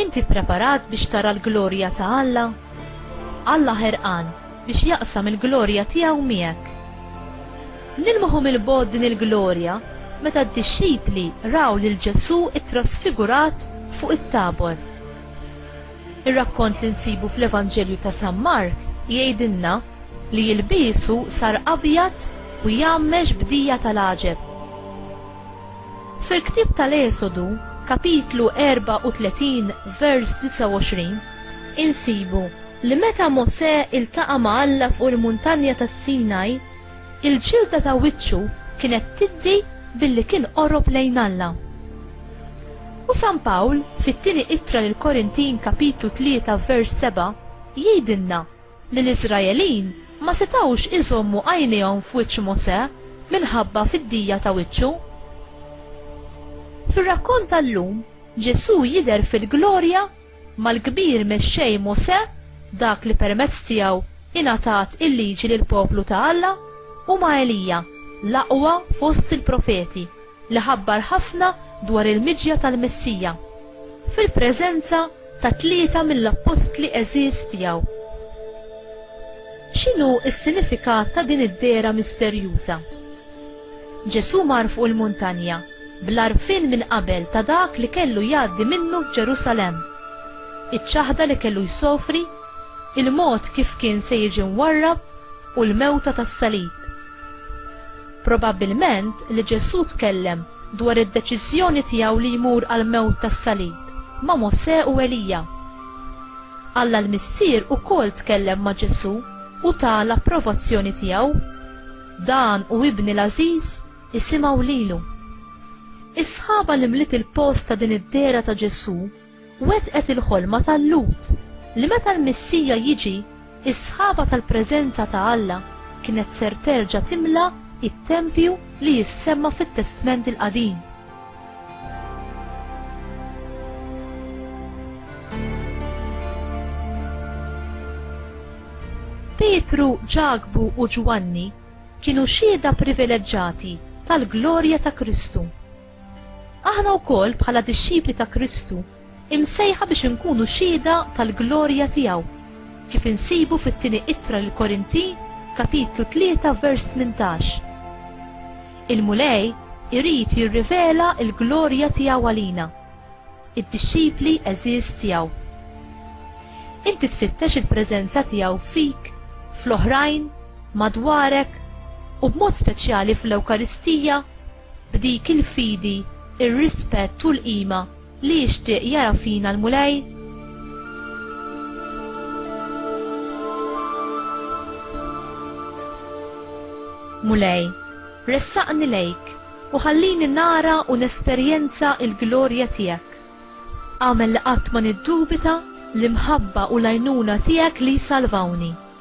Inti ppreparat biex tara l-glorja ta' Alla? Alla ħerqan biex jaqsam il-glorja tiegħu miegħek. Nilmħu mill-bogħod din il-glorja meta d-dixxipli raw lil Ġesù ttrasfigurat fuq it-Tabor. Ir-rakkont li nsibu fl-Evanġelju ta' San Mark jgħidilna li jilbiesu sar abjad u jgħammex b'dija tal-għaġeb. Fil-ktieb tal-Esodu, kapitlu 34, vers 29, insibu li meta Mosè iltaqa' ma' Alla fuq il-Muntanja tas-Sinaj, il-ġilda ta' wiċċu kienet tiddi billi kien qorob lejn Alla. U San Pawl, fit-Tieni Ittra lill-Korintin kapitlu 3 vers 7, jgħidilna li l-Iżraelin ma setgħux iżommu għajnejhom f'wiċċ Mosè minħabba fiddija ta' wiċċu. Fir-rakkont tal-lum, Ġesù jidher fil-glorja mal-kbir mexxej Mosè, dak li permezz tiegħu ingħatat il-Liġi lill-poplu ta' Alla, u ma' Elija, l-aqwa fost il-profeti, li ħabbar ħafna dwar il-miġja tal-Messija, fil-preżenza ta' tlieta mill-appostli għeżież tiegħu. X'inhu s-sinifikat ta' din id-dehra misterjuża? Ġesù mar fuq il-muntanja bl-għarfien minn qabel ta' dak li kellu jgħaddi minnu f'Ġerusalemm, iċ-ċaħda li kellu jsofri, il-mod kif kien se jiġi mwarrab u l-mewta tas-salib. Probabbilment li Ġesù tkellem dwar id-deċiżjoni tiegħu li jmur għall-mewt tas-salib ma' Mosè u Elija. Alla l-Missier ukoll tkellem ma' Ġesù u ta l-approvazzjoni tiegħu, Dan hu Ibni l-għażiż, isimgħu lilu. Is-sħaba li mliet il-post ta' din id-dehra ta' Ġesù wettqet il-ħolma ta' Lut li meta l-Missija jiġi, is-sħaba tal-preżenza ta' Alla kienet ser terġa' timla t-tempju li jissemma fit-Testment il-Qadim. Pietru, Ġakbu u Ġwanni kienu xhieda privileġġati tal-glorja ta' Kristu. Aħna wkoll bħala dixxipli ta' Kristu imsejħa biex inkunu xhieda tal-glorja tiegħu, kif insibu fit-tieni ittra lil Korintin kapitlu 3 vers 18. Il-Mulej irid jirrivela l-glorja tiegħu għalina, id-dixxipli għeżież tiegħu. Inti tfittex il-preżenza tiegħu fik, fl-oħrajn, madwarek u b'mod speċjali fl-Ewkaristija b'dik il-fidi, ir-rispett u l-qima li jixtieq jara fina l-Mulej? Mulej, ressaqni lejk u ħallini nara u nesperjenza l-glorja tiegħek. Agħmel li qatt ma niddubita l-imħabba u l-għajnuna tiegħek li jsalvawni.